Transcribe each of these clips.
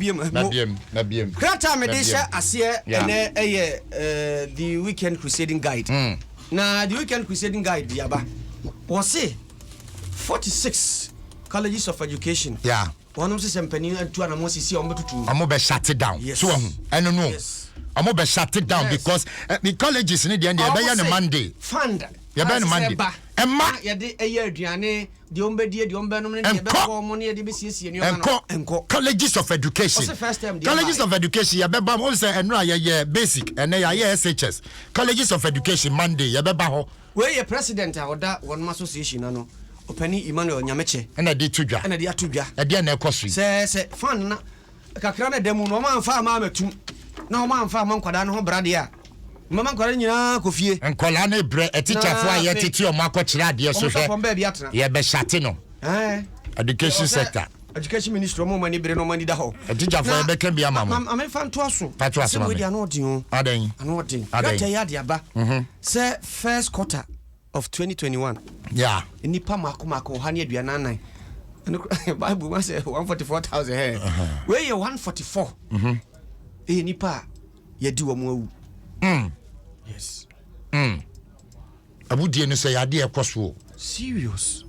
biom eh, mo. Krataa a mede hyɛ aseɛ ɛnɛ ɛyɛ The Weekend Crusading Guide. Mm. Na The Weekend Crusading Guide de aba. Wɔse 46 colleges of education. Yeah. wɔnom sɛ sɛ mpanin atu anamɔ sisi a wɔbɛtutu wɔn bɛ shut down yes. so wɔn ho ɛno no wɔn bɛ shut it down yes. because uh, the colleges ni deɛ ɛbɛyɛ no monday fund yɛbɛyɛ no monday ɛma yɛde ɛyɛ aduane Deɛ wɔbɛdi, deɛ wɔbɛnom ne deɛ ɛbɛtɔ wɔn ne deɛ ɛbɛsiesie nneɛma no, ɛnkɔ. Colleges of Education. Ɔse first term deɛ ɛbaeɛ. Colleges of Education yɛbɛba mu, ɔsɛ ɛno a yɛyɛ basic, ɛnɛ yɛayɛ SHS. Colleges of Education Monday yɛbɛba hɔ. Wei yɛ President a ɔda wɔnom Association ano, Ɔpanin Emmanuel Nyamekyɛ. Ɛna ɛde to dwa. Ɛna ɛde ato dwa. Ɛdeɛn na ɛkɔ so yi? Sɛ sɛ fan no na. Kakra na ɛda mu no, wɔamfa amma amatum, na wɔamfa amma nkwadaa no ho bra deɛ a, mɛma nkwadaa no nyinaa akɔ fie. Nkwadaa no rebrɛ, atikyafo a yɛtete wɔn akɔkyerɛ adeɛ so hwɛ, yɛbɛhyate no. Education sector. Education ministry, wɔn a wɔn ani bere na wɔn ani da hɔ. Atikyafo, yɛbɛka bi ama mo. Maame fa ntoa so. Pato asoma mi. Ano ɔden o. Adan. Ano ɔden. Adan. Yɛatɛ yɛ ade aba. Sɛ first quarter. of 2021. Yeah. Nnipa mako mako ɔha ne aduanan nan. Ɛno kora Bible mu asɛ 144,000 hɛ. Wei yɛ 144. Mhm. Ɛyɛ nnipa a yɛadi wɔn awu. Mm. Yes. Mm. Awudie no sɛ yadeɛ ɛkɔ so o. Serious.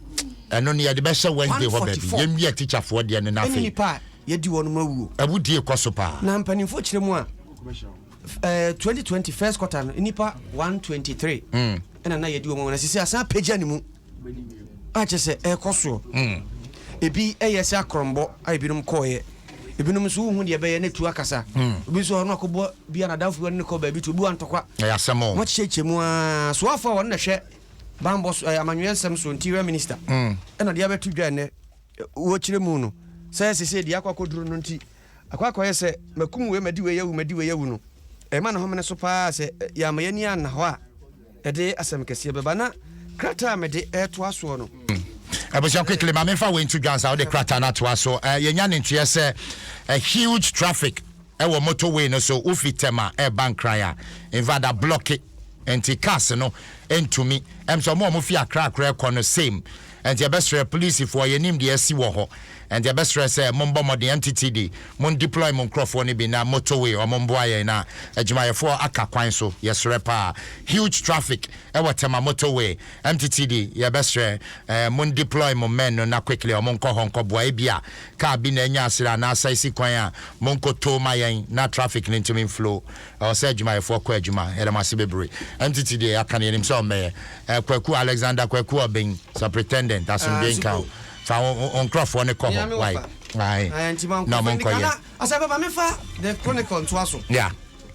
Ɛno no yɛde bɛhyɛ Wednesday hɔ baabi. Yɛnwia tikyafoɔ deɛ no n'afei. Ɛne nnipa a yɛadi wɔn awu o. Awudie kɔ so paa. Na mpanimfoɔ kyerɛ mu a ɛɛ twenty twenty first quarter no nipa one twenty three hmm. ɛna na yɛdi wɔn wɔn asisi asan apagya ne mu akyɛ sɛ ɛkɔ soɔ hmm. ebi ɛyɛ sɛ akorɔmbɔ a ebinom kɔɔyɛ ebinom nso wohu deɛ ɛbɛyɛ na etu akasa hmm. obi nso ɔno akɔbɔ bi anadamfo bi ɔne ne kɔ baabi to obi wa ntɔkwa ɛyɛ asɛm o wɔn kyekyɛ kyɛ mu aa soafo a wɔn na hwɛ bambɔ so ɛɛ amanyɔyɛ nsɛm so interior minister ɛna deɛ abɛto dwa ɛnɛ wɔkyerɛ mu no sɛ ɛsɛ sɛ deɛ akɔ akɔduro no nti Akɔ akɔyɛ sɛ makum wei madi wei awu madi wei awu no, ɛrema ne homene so pa ara. Sɛ yɛamma yɛn ani anna hɔ a, ɛde asɛm kɛseɛ bɛba. Na krataa a mede retoa soɔ no. Hmm. Abusua quickly, ma memfa wei nto dwa ansa wode krataa no atoa so. Uh, yɛnya ne nteɛ sɛ a eh, huge traffic ɛwɔ eh, motorway no so wofi Tema ɛreba eh, Nkran a invada blɔke nti cars no ntumi ɛm sɛ ɔmo a ɔmo fi akra akra ɛkɔ no same Ɛnti yɛbɛsrɛ polisifoɔ, yɛnim deɛ asi wɔ hɔ, ɛnti yɛbɛsrɛ sɛ mombɔ mmɔden NTTD, mon deploy mo nkorɔfoɔ no bi na motorway wɔn mboa yɛn na adwumayɛfoɔ aka kwan so, yɛsrɛ paa. Huge traffic wɔ Tema motorway, NTTD yɛbɛsrɛ eh, mon deploy mo men no na quickly wɔn nkɔ hɔ nkɔboa, ebia car bi na anya asere anaa asaisi kwan a, monkotow ma yɛn na traffic no ntumi nflow. Ɛwɔ sɛ adwumayɛfoɔ kɔ adwuma, yɛda mo ase bebree. MTT deɛ yɛaka no yɛnim sɛ ɔmmɛyɛ. Eh, Kwaku, Alexander Kwaku Obeng, Supritendent, asomdwoe nka wo. Fa wo, wo nkorɔfoɔ no kɔ hɔ, wai, ae, na ɔmo nkɔ yɛ. Asafo ma me fa The Chronicle ntoa so. Yeah.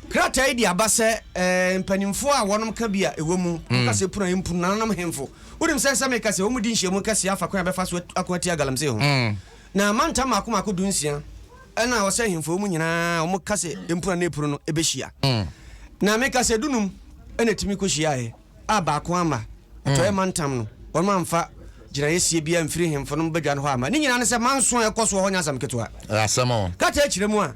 Krataa yi de aba sɛ eh, mpanimfoɔ a wɔnom ka bi a ɛwɔ mu, wɔn kasa yɛ punu a ɛmpunu, nananom hemfo. Wonim sɛ sɛ meka sɛ wɔn di nhyiamu kɛseɛ afa kwan a ɛbɛfa so ako atia galamsey ho. Na mantam mmaako mmaako du nsia. Nna ɔsɛ ahemfo hɔ mu nyina wɔka sɛ mpura na epuro no behyia. Na meka sɛ dunum na etumi kohyiaeɛ a baako amma. Atɔeɛ mantam no, wɔamfa gyinaeɛ sie biara amfiri ahemfo no badwa no hɔ amma. Ne nyinaa ne sɛ manso a ɛkɔ soɔ hɔ nyɛ asɛm ketewa. Krataa kyerɛ mu a,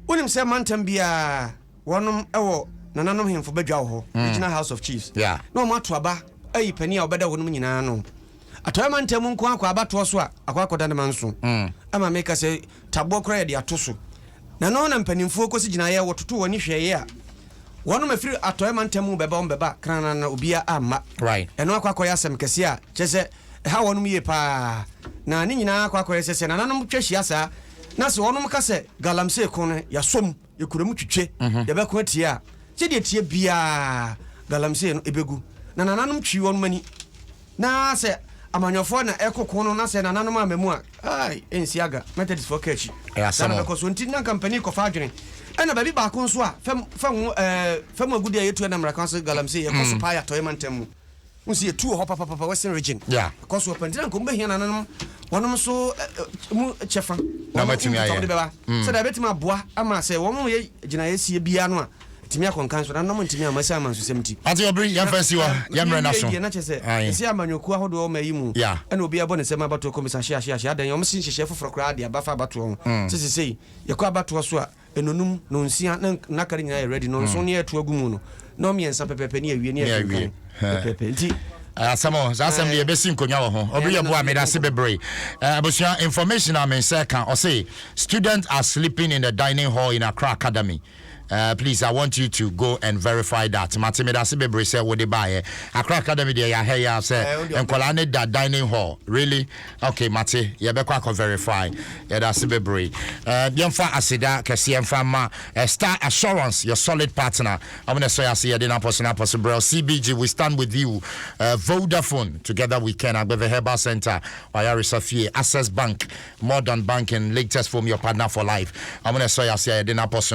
wonim sɛ mantam biara wɔnom wɔ nananom hemfo badwa wɔ hɔ, regional house of chiefs, na wɔato aba ayi panin a ɔbɛda hɔ nom nyinaa ano. Atɔeɛ mantam nko ara kɔ abatoɔ so a akɔ akɔda ne ma nson ama me ka sɛ taboɔ koraa yɛde ato so na ɛno na mpanimfoɔ kɔsi gyinaeɛ wɔtoto wɔn ani hwɛeɛ a wɔnom a ɛfiri atɔeɛ mantam mu bɛba wɔn bɛba kranana na obiara amma ɛno akɔ akɔyɛ asɛm kɛseɛ a kyerɛ sɛ ɛha wɔnom yie paa na ne nyinaa akɔ akɔyɛ sɛ sɛ nananom twa hyia saa na sɛ wɔnom ka sɛ galamsey ko no yɛasɔ mu Yɛkura mu twitwe, yɛbɛko atia a. Sɛdeɛ ɛteɛ biara galamsey no ɛbɛgu, na nananom twi wɔnom ani. Na sɛ amanyɔfoɔ na ɛko ko no na sɛ nananom amma mu a, ai, ɛnsi aga, Methodistfoɔ ka akyi. Saa na ɛbɛkɔ soɔ. Nti na anka mpanin kɔfa adwene. Ɛna baabi baako nso a fam, fam, eh, fam agudeɛ a yɛtu ɛnam mmara kwan so galamsey, ɛkɔ so paa yɛ Atɔeɛ mantam mu. Wohu sɛ yɛtu wɔ hɔ papapapa, Western Region. Yeah. Ɛkɔ so paa. Nti na nka wɔbɛhia nananom wɔnom nso ɛ, ɛ, mu kyɛfa. Na Wɔnom wɔatumi ayɛ. nkitahodde bɛba. Sɛdeɛ ɛbɛtumi aboa ama sɛ wɔyɛ gyinaeɛsie biara no a, atumi akɔ nkan so. Nananom ntumi amma ɛsiane amansusɛm nti. Ate ɔbere, Na, yɛmfa nsi hɔ, na, na yɛmmrɛ no yɛnwie aso. deɛ na kyerɛ sɛ, Ae. ɛsɛ amanyɔkuo ahodoɔ wɔ ɔman yi mu. Yeah. Ɛna obiara bɔ ne nsam abatoɔ kɔmmisa, ahye, ahye, ahye. Adɛn? Wɔasi nhyehyɛeɛ foforɔ koraa de aba fa abatoɔ ho. Sɛ seesei, yɛkɔ abatoɔ so a, Nnɔnum, nnɔnsia, na na kari nyinaa yɛ rɛdi, nnɔnson ne yɛreto agu mu no, nnɔn mmiɛnsa pɛpɛɛpɛ ne yɛawie, ne yɛkenkan pɛpɛɛpɛ. Nti. Asɛm o, saa asɛm deɛ yɛbɛsi nkonnwa wɔ ho. Obiri Abua, meda ase bebree. Abusua, information a me nsa ɛka, ɔse, students are sleeping in the dining hall in Accra Academy. Please, I want you to go and verify that. Mate, meda ase bebree sɛ wode baeɛ. Accra Academy deɛ, yɛahɛ yi ara sɛ nkwadaa no da dining hall. Really? Ok mate yɛbɛkɔ akɔ verify yɛdase bebree eh, yɛmfa aseda kɛseɛ mfa ma eh, star assurance your solid partner ɔmo na ɛsɔ yɛase yɛde no apɔso no apɔso brɛl cbg we stand with you eh, vodafone together we can agbeve herbal center wayaresa fie access bank more than banking latest foam your partner for life ɔmo na ɛsɔ yɛase a yɛde no apɔso no